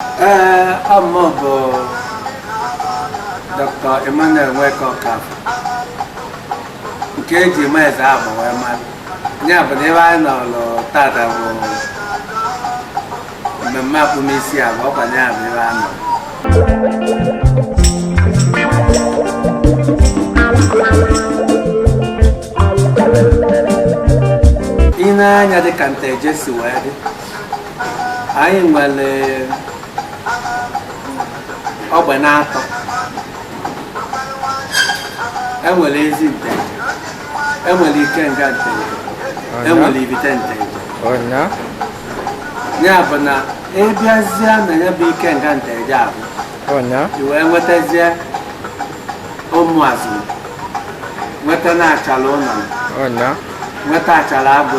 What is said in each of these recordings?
Ee, ọ mụ bụ Dr. Emmanuel Nweke Ọkafọ nke eji ma eze agba wee mara ya bụ na ihe anyị nọrọ tata bụ mmemme akpụmisi a bụ ọkwa ya bụ ebe a nọ i nee anya dịka nteje si wee dị anyị nwere ogbe na-atọ enwere ezi nteje enwere ikenga nteje enwere ivite nteje ọnya ya bụ na ịbịazie na ya bụ ikenga nteje a bụ ọnya i wee nwetazie ụmụazụ nweta na achala ụnọ ọnya nweta achala agụ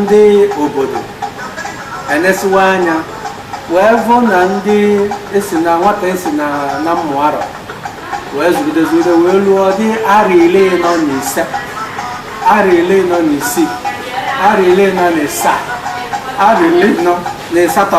ndị obodo enesiwa anya wee vụ na ndị esi na nwata esi na na mmụarọ wee zụgide zụgide wee luo dị arọ ili anọ na ise arọ ili anọ na isii arọ ili anọ na ịsaa arọ ili anọ na ịsatọ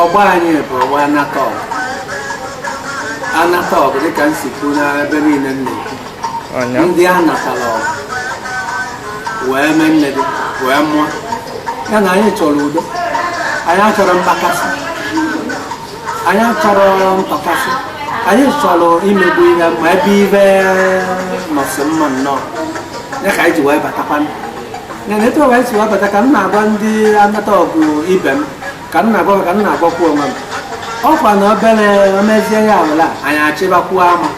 ọgbọ anyị bụ ọgbọ anata ọgụ anata ọgụ dịka m si kwuo n'ebe niile nne Ọnya. ndị anata ọgụ wee mee nne gị wee mụọ ya na anyị chọrọ udo anyị achọrọ mkpakasị anyị achọrọ mkpakasị anyị achọrọ imegbu ihe ma ebe ibe nọsị mma nnọọ ya ka anyị ji wee batakwa ya na etu ọwa anyị si wee bata ka m na-agwa ndị anata ọgụ ibe m ka m na-agwa ka m na-agwakwu onwe m ọkwa na obere omezie ya ala anyị achịbakwuo ama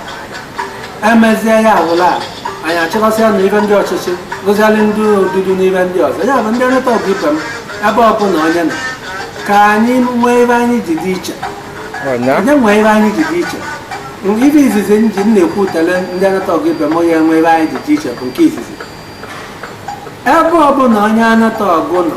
emezie ya awụla a anyị achịkọsịa na ive ndị ọchịchị rụzialị ndị odudu n'ive ndị ọzọ ya bụ ndị anata ọgụ ibe m ebe ọbụla onye nọ ka anyị nwee ive anyị ji dị iche Ọnya. anyị nwee ive anyị ji dị iche ive izizi m ji m na-ekwutele ndị anata ọgụ ibe m anyị nwee ive anyị ji dị iche bụ nke izizi ebe ọbụla onye anata ọgụ nọ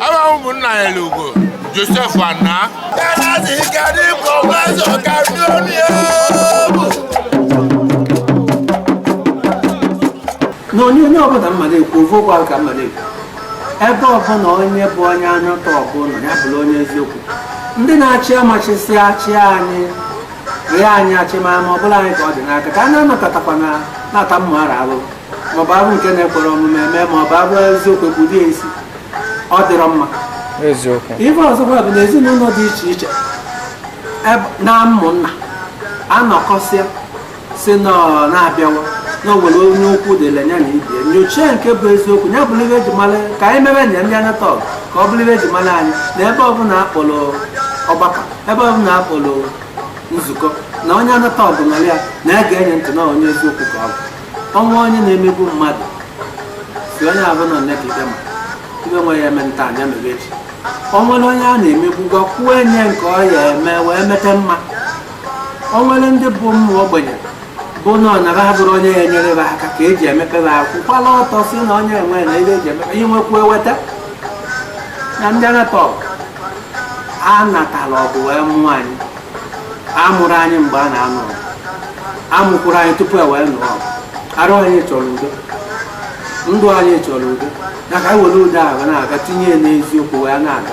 Awa ụmụnna ya lugo Josef Anna. Galazi gari kọmazọ kari onye bụ. n'onyonyo ọbụla mma na-ekwu ofe ụgbọ ka mma na-ekwu ebe ọbụla onye bụ onye anyụta ọbụla ya bụrụ onye eziokwu ndị na-achị amachisi achị anyị rịa anyị achị ma ma ọbụla anyị ka ọ dị n'aka ka a na-anọkọtakwa na na-ata mma ara arụ maọbụ arụ nke na-ekwere omume eme maọbụ arụ eziokwu ekwudie isi ọ dịrọ mma eziokwu ife ọzọkwa bụ na ezinụlọ dị iche iche eb- na ụmụnna anọkọsịa si na ọ na-abịawa na o nwere onye okwu dịla ya na ibe ya nyochie nke bụ eziokwu ya bụrụ ife eji mara ka anyị mere nya ndị Anataọgụ ka ọ bụrụ ife eji mara anyị na ebe ọbụla akpọrọ ọgbakọ ebe ọbụla akpọrọ nzukọ na onye Anataọgụ nọrọ ya na e gee nya ntị na onye eziokwu ka ọ bụ o nwee onye na-emegbu mmadụ si onye ahụ nọ nekide ma ife nwe ya eme taa nya mere echi o nwere onye a na-emegbu gwa kwuo enye nke ọ ya eme wee mete mma o nwere ndị bụ ụmụ ogbenye bụ na ọ nara abụrụ onye ya enyere ha aka ka eji emepere akwụ kwala ọtọ si na onye enwe na ihe eji emepe ihe nwekwu eweta na ndị a na-akpọ a natara ọgụ wee mụọ anyị a mụrụ anyị mgbe a na-anụ ọgụ a mụkwụrụ anyị tupu e wee nụọ ọgụ arụ anyị chọrọ udo ndụ anyị chọrọ udo ya ka anyị were udo ahụ na-aga tinye ya n'eziokwu wee na-aga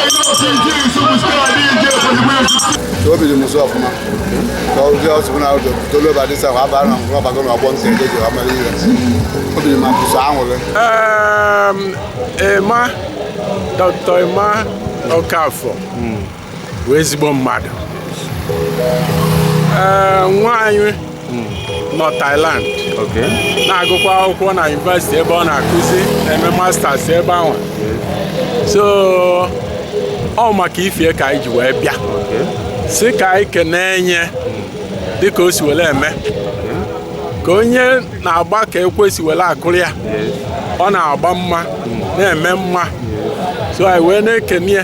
obi dị m ụsọ ọfụma ka ụdị ọsụpụ na ụdị tolu ebe adịsa ahụ abara na mkpụrụ ọbago na ọgbọ nke ndị ji amara ihe obi dị m ụsọ anwụrụ Emma Dr. Emma Okafor bụ ezigbo mmadụ Ee, nwa anyị hmm. nọ Thailand na-agụkwa akwụkwọ na yunivesiti ebe ọ na-akụzi na-eme masters ebe ahụ so ọ maka ife a ka anyị ji wee bịa si ka anyị kenee nya dịka o si were eme ka onye na-agba ka ekwe si were akụrụ ya ọ na-agba mma na-eme mma so anyị wee na-ekene ya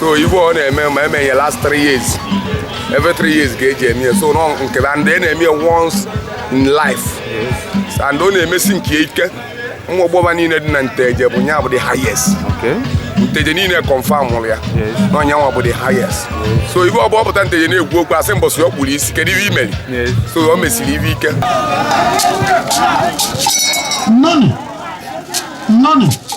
so ife ọ na-eme ma eme ya last three years every three years ka eji eme ya so nọ nke na ndị na-eme ya once in life and ọ na-emesi nke ike nwa ọgbọba niile dị na Nteje bụ nya bụ the highest Nteje niile kọnfamụrụ ya na ọ nya nwa bụ the highest so ife ọ bụ ọ pụta Nteje na-ekwu okwu a sị mbọsị ọ kpụrụ isi kedu ife i meri so ọ mesiri ife ike nọnụ nọnụ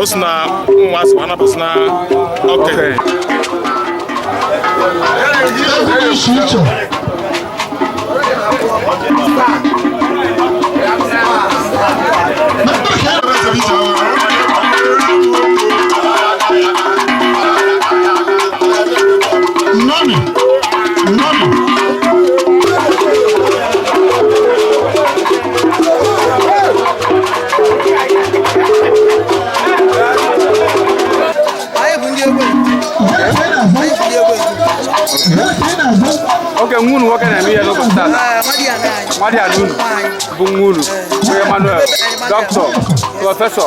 o si na ụmụ azị ma anabasị na okenye Nani? Nani? oke nwa unu nwoke na-eme ihe n'ụbọchị taa nwadiana unu bụ nwa unu bụ Emmanuel dọkịta prọfesọ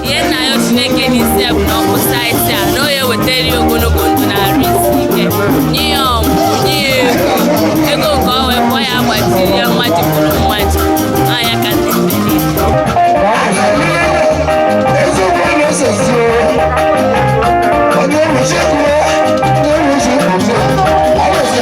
ihe m na-ayọ Chineke n'isi ya bụ na ọkụ saịtị a na ọ ya-ewetara ya ogologo ndụ na arụ isi ike nye ya ọmụmụ nye ya ego ego nke ọ wee kwọ ya gbajiri ya mmaji kwuru mmaji anya ka ndị mmiri eziokwu a na-esezi onye nwuchi kwuo onye nwuchi kwuzie alụsị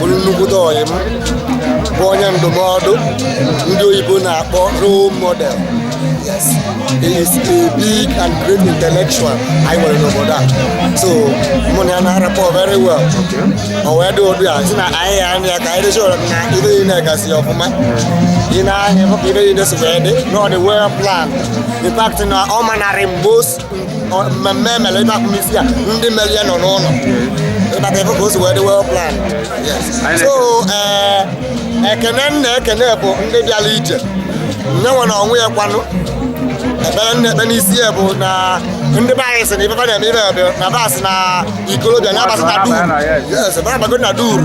bụrụ nnukwute ọyị m bụ onye ndụmọdụ ndị oyibo na-akpọ role model yes he is a big and great intellectual anyị nwere n'obodo a so mụ na ya na-rapport very well o wee dị ụdị a si na anyị ya anya ka anyị dịchọrọ na ibe yi na-egasị ọfụma ị na-ahịa ibe yi na-esogbe dị na ọ dị well planned in fact na ọ manarị m most mmemme emere ibe akpụmisi a ndị mere ya nọ n'ụlọ ịbata ebe ka o si wee dị well planned so ee eh, ekene m na-ekene bụ ndị bịara ije nne nwe na onwe ya kwanụ ekpere m na-ekpe n'isi ya bụ na ndị be anyị sị na ife na-eme ibe na bas na ikolobịa na-abata na duru yes na duru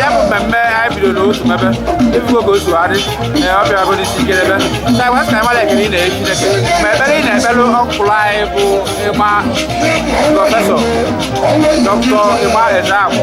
ya bụ mmemme anyị bidoro n'otu mebe ị fụgo ka o si adị ee ọ bịara bụ n'isi ike ebe na wee sị mara ekele ị na-enye Chineke ma ekpere ị na-ekpere ọkpara anyị bụ ịgba prọfesọ dọkịta ịgba eze agwụ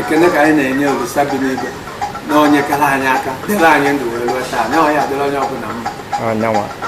ekene ka anyị na-enye olisa bi n'igwe na o nyekara anyị aka dịrị anyị ndụ wee ruo taa na ọ ya-adịrị onye ọbụla mma anyanwa